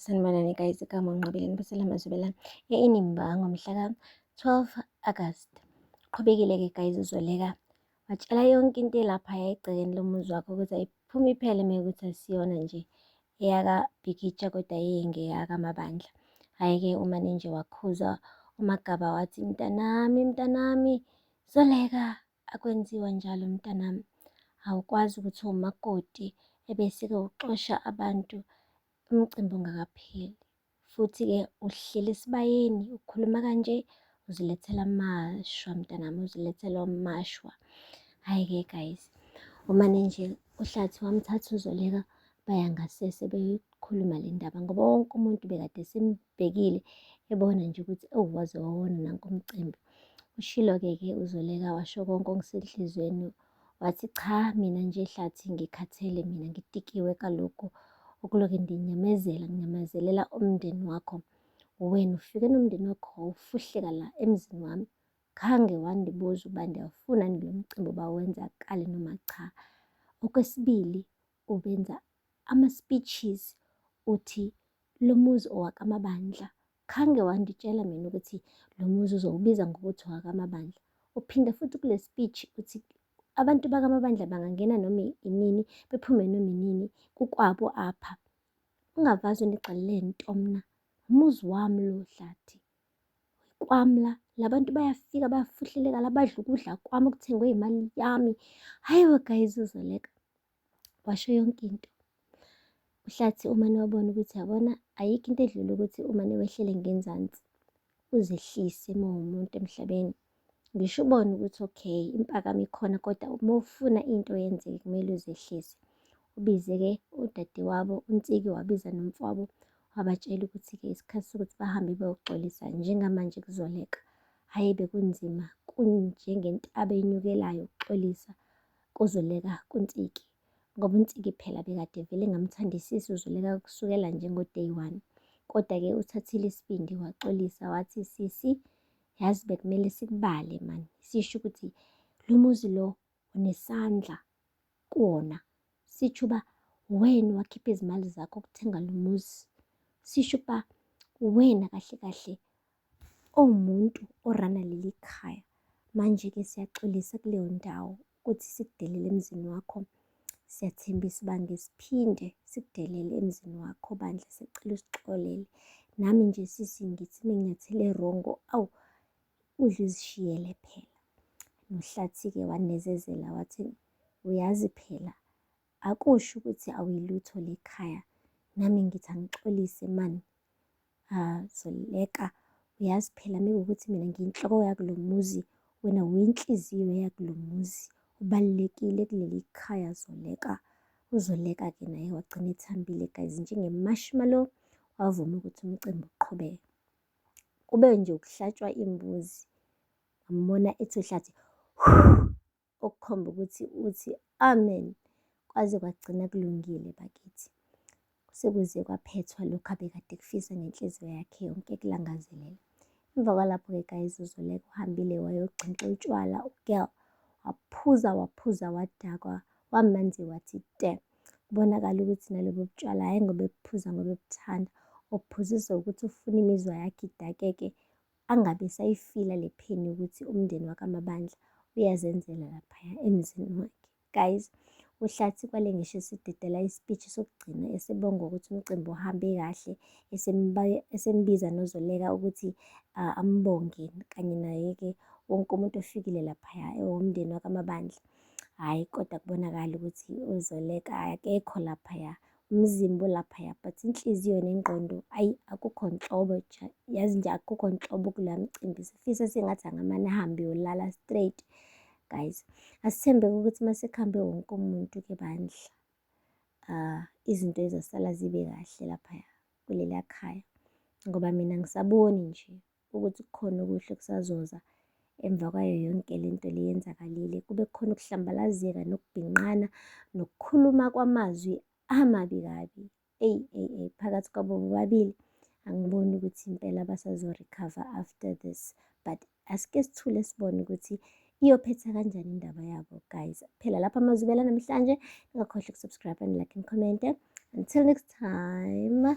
Sanibonani guys, igama uNqobile Nibusela Mazwibela eNimba ngomhlaka 12 August. Qhubekile-ke guys uzoleka watshela yonke into elapha yayigcekeni lomuzi wakho ukuthi ayiphume iphele uma ukuthi asiyona nje eyakabhikitsha kodwa yeyengeyakamaBandla. Hhayi-ke umane nje wakhuza uMagaba wathi, mntanami, mntanami, zoleka. Akwenziwa njalo mntanami, awukwazi ukuthi umakoti ebese-ke uxosha abantu umcimbi ungakapheli. Futhi-ke uhleli esibayeni ukhuluma kanje uzilethela amashwa mntanami, uzilethela amashwa. Hhayi-ke guys, umane nje uhlathi wamthatha uzoleka baya ngasese beyoyikhuluma le ndaba ngoba wonke umuntu bekade sembhekile ebona nje ukuthi ewu waze wawona nankomcimbi Ushilo-ke ke uZoleka washo konke okusenhliziyweni wathi cha mina nje hlathi ngikhathele mina ngitikiwe kaloku okuloke ndinyamezela nginyamezelela umndeni wakho wena ufike nomndeni wakho wawufuhleka la emzini wami khange wandibuza uba ndiyawufuna nilomcimbi uba wenzakale noma cha okwesibili ubenza ama-speeches uthi lo muzi owakamabandla khange wangitshela mina ukuthi lo muzi uzowubiza ngokuthi owakamabandla uphinde futhi kule speech uthi abantu bakamabandla bangangena noma inini bephume noma inini kukwabo apha ungavazi unigxalele ntomna umuzi wami lo hlathi kwami la, la bantu bayafika bayafuhleleka la, badla ukudla kwami okuthengwe imali yami. Hhayi we guys uzoleka, washo yonke into. Uhlathi umane wabona ukuthi yabona ayikho into edlula ukuthi umane wehlele ngenzansi, uzehlise uma uwumuntu emhlabeni. ngisho ubone ukuthi okay impakamo ikhona kodwa uma ufuna into yenzeke kumele uzehlise ubize-ke udadewabo unsiki wabiza nomfowabo wabatshela ukuthi-ke isikhathi sokuthi bahambe beyoxolisa njengamanje kuzoleka hhayi bekunzima kunjengentaba enyukelayo ukuxolisa kuzoleka kunsiki ngoba unsiki phela bekade vele ngamthandisisi uzoleka kusukela njengo-day one kodwa-ke uthathile isibindi waxolisa wathi sisi yazi bekumele sikubale mani sisho ukuthi lo muzi lo unesandla kuwona sitsho uba wena wakhipha izimali zakho ukuthenga lo muzi sisho ukuba wena kahle kahle owumuntu orana leli khaya manje-ke siyaxolisa kuleyo ndawo ukuthi sikudelele emzini wakho siyathembisa uba ngesiphinde sikudelele emzini wakho bandla sicela usixolele nami nje sisi ngithi menginyathele rongo awu udla uzishiyele phela nohlathi-ke wanezezela wathi uyazi phela akusho ukuthi awuyilutho lekhaya nami ngithi angixolise mani Haa Zoleka uyazi phela mekuwukuthi mina ngiyinhloko yakulo muzi wena uyinhliziyo yakulo muzi ubalulekile kuleli khaya Zoleka. UZoleka-ke naye wagcina ethambile guys njenge-marshmallow wavuma ukuthi umcimbi uqhubeke. Kube nje ukuhlatshwa imbuzi ngambona ethi uhlathi okukhomba ukuthi uthi amen kwaze kwagcina kulungile bakithi sekuze kwaphethwa lokhu abekade kufisa ngenhliziyo yakhe yonke kulangazelela emva kwalapho-ke kayizuzuleka uhambile wayogxinxa utshwala ugirl waphuza waphuza wadakwa wamanzi wathi te kubonakala ukuthi nalobo butshwala hhayi ngoba ebuphuza ngoba ebuthanda obuphuziswa ukuthi ufuna imizwa yakhe idakeke angabe esayifila le pain yokuthi umndeni wakamabandla uyazenzela laphaya emzini wakhe guys uhlathi kwale ngisho esidedela ispeech sokugcina esebonga ukuthi umcimbi uhambe kahle esembiza nozoleka ukuthi uh, ambonge kanye naye-ke wonke umuntu ofikile laphaya ewomndeni wakamabandla hhayi kodwa kubonakala ukuthi uzoleka akekho laphaya umzimba ulaphaya but inhliziyo nengqondo ayi akukho nhlobo yazi nje akukho nhlobo kula mcimbi sifisa sengathi angamane ahambe yolala straight guys asithembeke ukuthi uma sekuhambe wonke umuntu ke bandla um izinto ezosala zibe kahle laphaya kuleliya khaya ngoba mina ngisaboni nje ukuthi kukhona okuhle kusazoza emva kwayo yonke le nto le yenzakalile kube khona ukuhlambalazeka nokubhinqana nokukhuluma kwamazwi amabi kabi eyi eyi eyi phakathi kwabo bobabili angiboni ukuthi impela basazorecover after this but asike sithule sibone ukuthi iyophetha kanjani indaba yabo guys phela lapha amazubela namhlanje ningakhohlwa ukusubscribe and like and comment until next time